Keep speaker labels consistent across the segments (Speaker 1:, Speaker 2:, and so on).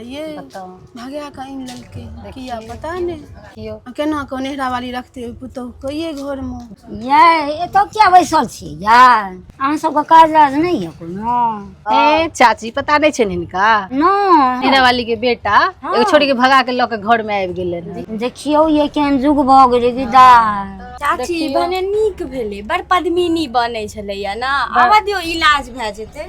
Speaker 1: ये बताउ
Speaker 2: भगा
Speaker 1: कऽ आनि लेलकै किया पता नहि देखियौ आ केना कऽ नेहरा
Speaker 2: वाली रखते ओहि पुतहु कहिए घरमे यै एतऽ किया बैसल छी यै अहाँ सबके काज राज नहि यऽ कोनो ए चाची
Speaker 3: पता नहि छै हिनका नहि नेहरा
Speaker 2: वाली के
Speaker 3: बेटा एगो छोड़ी के भगा के लऽ के घर में आबि गेलै ने देखियौ ये केहन
Speaker 2: जुग भऽ गेलै विदाई चाची
Speaker 4: भने नीक भेलै बड़ पद्मिनी बनै छलैया ने आबऽ दियौ इलाज भए जेतै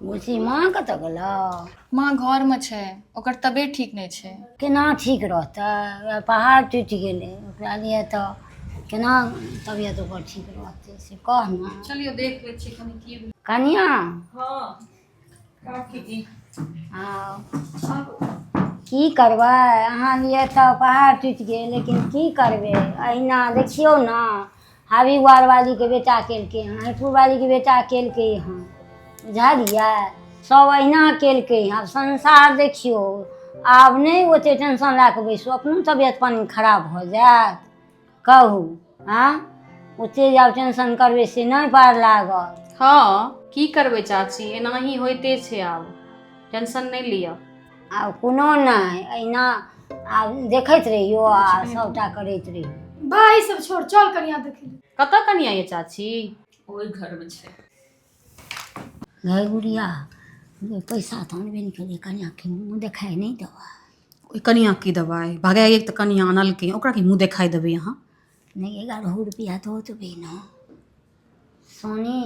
Speaker 2: बुझी माँ कतऽ गेलौ माँ घरमे
Speaker 5: छै ओकर तबियत ठीक नहि छै केना ठीक
Speaker 2: रहतै वएह पहाड़ टूटि गेलै ओकरा लिए तऽ केना तबियत ओकर ठीक रहतै से कह ने चलियो देख लै छी
Speaker 5: कनि की कनिया हँ काकी हँ
Speaker 2: की करबै अहाँ लिए तऽ पहाड़ टूटि गेल लेकिन की करबै अहिना देखियौ ने हावी वारवालीके बेटा केलकै हँ हरिपुरवालीके बेटा केलकै हँ बुझलियै सभ अहिना केलकै हँ आब संसार देखियौ आब नहि ओतेक टेंशन लए कऽ बैसू अपनो तबियत पानि खराब भऽ जायत कहू आ ओते जे आब टेंशन करबै से नहि पार लागल हँ की
Speaker 6: करबै चाची एनाही होइते छै आब टेंशन नहि लिअ आब कोनो
Speaker 2: नहि अहिना आब देखैत रहियो आ सभटा करैत रहियो भाय सब छोड़
Speaker 4: चल कनिया देखे ले कतऽ कनिया ये चाची
Speaker 6: ओहि घरमे
Speaker 5: छै
Speaker 2: गै बुढ़िया जे पैसा तऽ अनबे नहि केलियै कनियाँके मुँह देखाइ नहि देबह ओहि कनियाँ
Speaker 6: की देबै भगा एक तऽ कनियाँ अनलकै ओकरा की मुँह देखाइ देबै अहाँ नहि एगारह
Speaker 2: रुपैआ दऽ देबै ने सोनी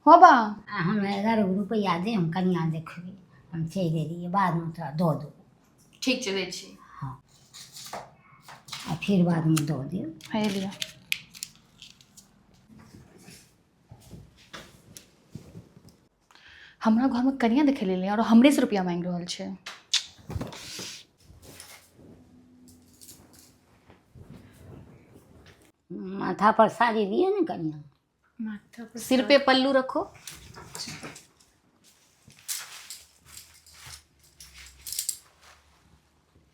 Speaker 2: हो
Speaker 5: बा आ हम एगारह गो
Speaker 2: रुपैआ दे हम कनियाँ देखबै हम चलि एलियै बादमे तोरा दऽ देबौ ठीक छै दै छी आ फेर बादमे दऽ देब हे लिअ
Speaker 5: हमरा घर में कनिया देखे ले और हमरे से रुपया मांग रहल छे
Speaker 2: माथा पर साड़ी लिए ने कनिया माथा पर
Speaker 5: सिर पे पल्लू रखो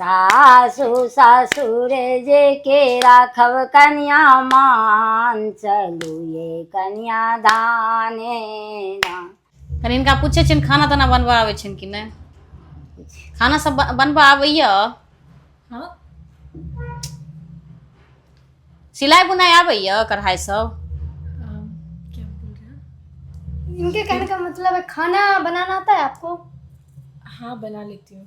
Speaker 2: सासु ससुर जे के राखब कन्या मान चलू ये कन्या धाने ना कनि हिनका
Speaker 6: पूछै छियनि खाना ताना बनबऽ आबै छनि कि नहि खाना सब ब- बनबऽ आबैय
Speaker 5: हँ
Speaker 6: सिलाइ बुनाइ आबैय कढ़ाइ सब अम, क्या बोल रहे
Speaker 5: हैं इनके कहने का
Speaker 4: मतलब है खाना बनाना आता है आपको हाँ
Speaker 5: बना लेती हूँ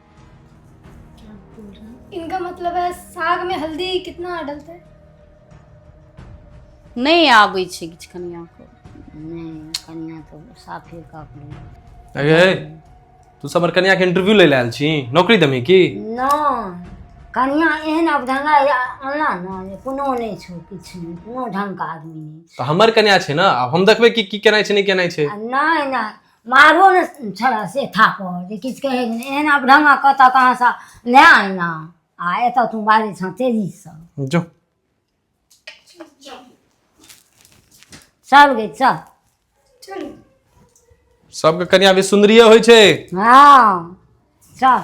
Speaker 5: क्या बोल रहा है इनका मतलब है
Speaker 4: साग में हल्दी कितना डालते हैं
Speaker 6: नहीं आबै छै किछु कनिया को नहीं
Speaker 2: कनिया तो साफे का अपने अगे
Speaker 7: तू सब हमर कन्या के इंटरव्यू ले लायल छी नौकरी देमी की ना
Speaker 2: कनिया एहन अब ढंगा अनला ना जे कोनो नहीं छो किछु नहीं कोनो ढंग का आदमी नहीं तो हमर कन्या छै
Speaker 7: ना अब हम देखबै कि की केनाइ छै नहीं केनाइ छै आ नहीं नहीं
Speaker 2: मारो ने छलए से थापर जे किछु कहै नहि एहन आब ढंगा कतऽ कहाँसँ नहि आइना आ एतऽ तू बाजै छँ तेजीसँ जो
Speaker 7: चल
Speaker 2: गई चल चलू
Speaker 7: सबके कनिया भी सुंदरिये होइ छै हाँ
Speaker 2: चल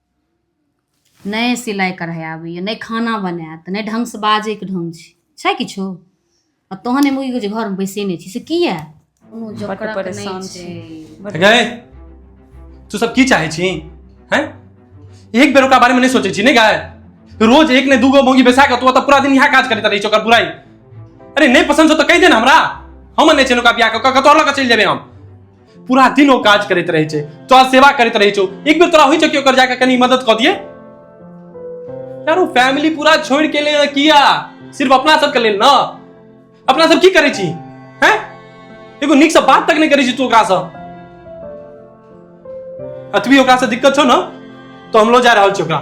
Speaker 6: नहि सिलाइ कढ़ाइ आबैए नहि खाना बनाएत नहि ढङ्गसँ बाजैके ढङ्ग छै छै किछो आ तहन एहिमे ई जे घरमे बैसै नहि छी से किए कोनो बड्ड जोकरक नहि परेशान छै
Speaker 8: छी
Speaker 6: बड्ड- गए
Speaker 7: तू सब की चाहे छी हैं एक बेर ओकरा बारे में नहीं सोचे छी नहीं गाय रोज एक ने दूगो मोगी बैसा के तू तो पूरा दिन यहाँ काज करते रही ओकर बुराई अरे नहीं पसंद हो तो कह दे ना हमरा हम नहीं चलो का बियाह कऽ कऽ कतौ अलग चल जेबे हम पूरा दिन ओ काज करैत रहै छै तोरा सेवा करैत रहै छौ एक बेर तोरा होइ छै कि ओकर जाके कनी मदद कऽ दिए यार ओ फैमिली पूरा छोड़ के ले किया सिर्फ अपना सबके लेल ना अपना सब की करै छी हैं एगो नीक से बात तक नहीं करै छी तू ओकरा से अतबी ओकरा से दिक्कत छौ ना तो हम लो जा रहल छी ओकरा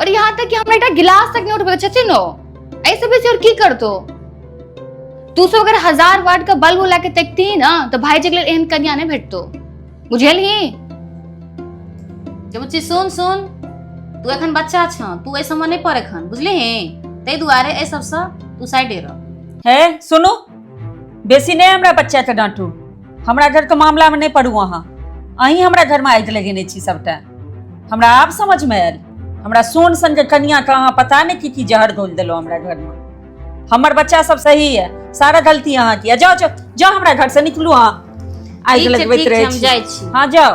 Speaker 5: और यहाँ तक कि हमरा एकटा गिलास तक नहीं उठबे छथिन ओ ऐसे बेसी और की करतो तू सब अगर हजार वाट का बल्ब ला के तकती ही ना तो भाई जी के लिए एहन कन्या नहीं भेटतो बुझल ही
Speaker 6: जमुची सुन सुन तू एखन बच्चा छ तू ऐ समय नहीं पर एखन बुझली ही तै दुआरे ऐ सबसँ तू साइडे रह हे सुनू
Speaker 8: बेसी नहि हमरा बच्चाके डाँटू हमरा घरके मामलामे नहि पड़ू अहाँ अहीं हमरा घरमे आगि लगेने छी सभटा हमरा आब समझमे आयल हमरा सोन सनके कनियाके अहाँ पता नहि की की जहर घोल देलहुँ हमरा घरमे हमर बच्चा सब सही है सारा गलती अहाँ की है। जाओ जाओ जाओ हमरा घर से निकलू अहाँ आगि ठीक छै, लगबैत ठीक छै, रहै हम छी जाइ
Speaker 6: छी।
Speaker 8: हाँ जाओ